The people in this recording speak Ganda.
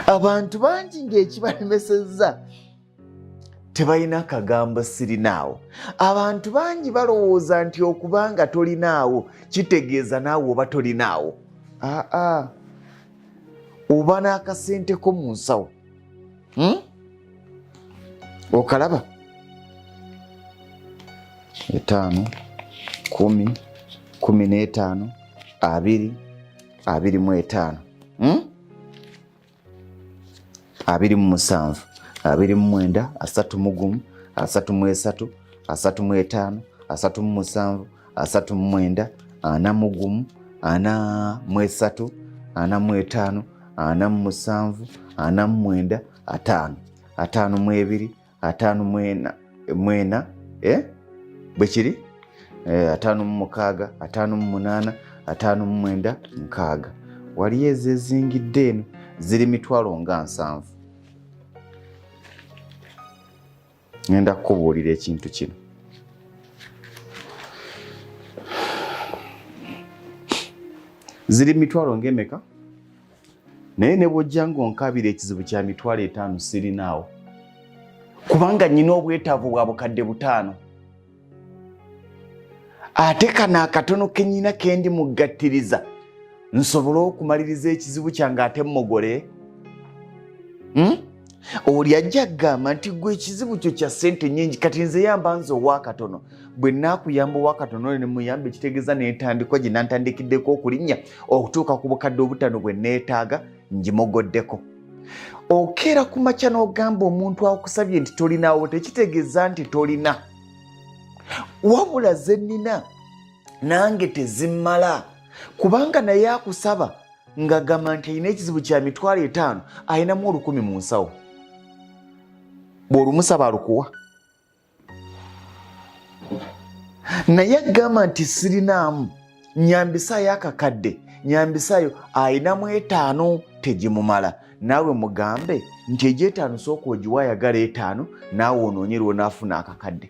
abantu bangi ng'ekibalemesezza tebalina kagambo sirinaawo abantu bangi balowooza nti okuba nga tolinaawo kitegeeza naawe oba tolinaawo aa oba n'akasenteko mu nsawo hmm? okalaba etaano kumi kumi n'etaano abiri abiri mu etaano hmm? abiri mu musanvu abiri mu mwenda asatu mu gumu asatu mu esatu asatu mu etaano asatu mu musanvu asatu mu mwenda ana mu gumu ana mu esatu ana mu etaano ana mu musanvu ana mu mwenda ataano ataano mu ebiri ataano mwena mwena eh? bwe kiri eh, ataano mu mukaaga ataano mu munaana ataano mu mwenda nkaaga waliyo ezezingidde eno ziri mitwalo nga nsanvu ngenda kukubuulira ekintu kino ziri mitwalo ngaemeka naye ne bwojja ng'onkabira ekizibu kya mitwalo etaano sirinaawo kubanga nnyina obwetaavu bwa bukadde butaano ate kano akatono kenyina kendi muggattiriza nsobole okumaliriza ekizibu kyange ate mmogole hmm? oli ajja kugamba nti gwe ekizibu kyo kya sente nyingi kati nze yamba nze owakatono bwe nakuyamba owakatono oyo nemuyamba ekitegeeza nentandikwa gye nantandikiddeko okulinnya okutuuka ku bukadde obutano bwe neetaaga ngimogoddeko okeera ku makya n'ogamba omuntu akusabye nti tolinaawo tekitegeeza nti tolina wabula ze nnina nange tezimmala kubanga naye akusaba ng'agamba nti alina ekizibu kya mitwalo etaano alinamu olukumi mu nsawo bw'olumusaba alukuwa naye agamba nti sirinaamu nyambisaayo akakadde nyambisaayo alinamu etaano tegimumala naawe mugambe nti egy'etaano sooka ogiwa ayagala etaano naawe onoonye lwonaafuna akakadde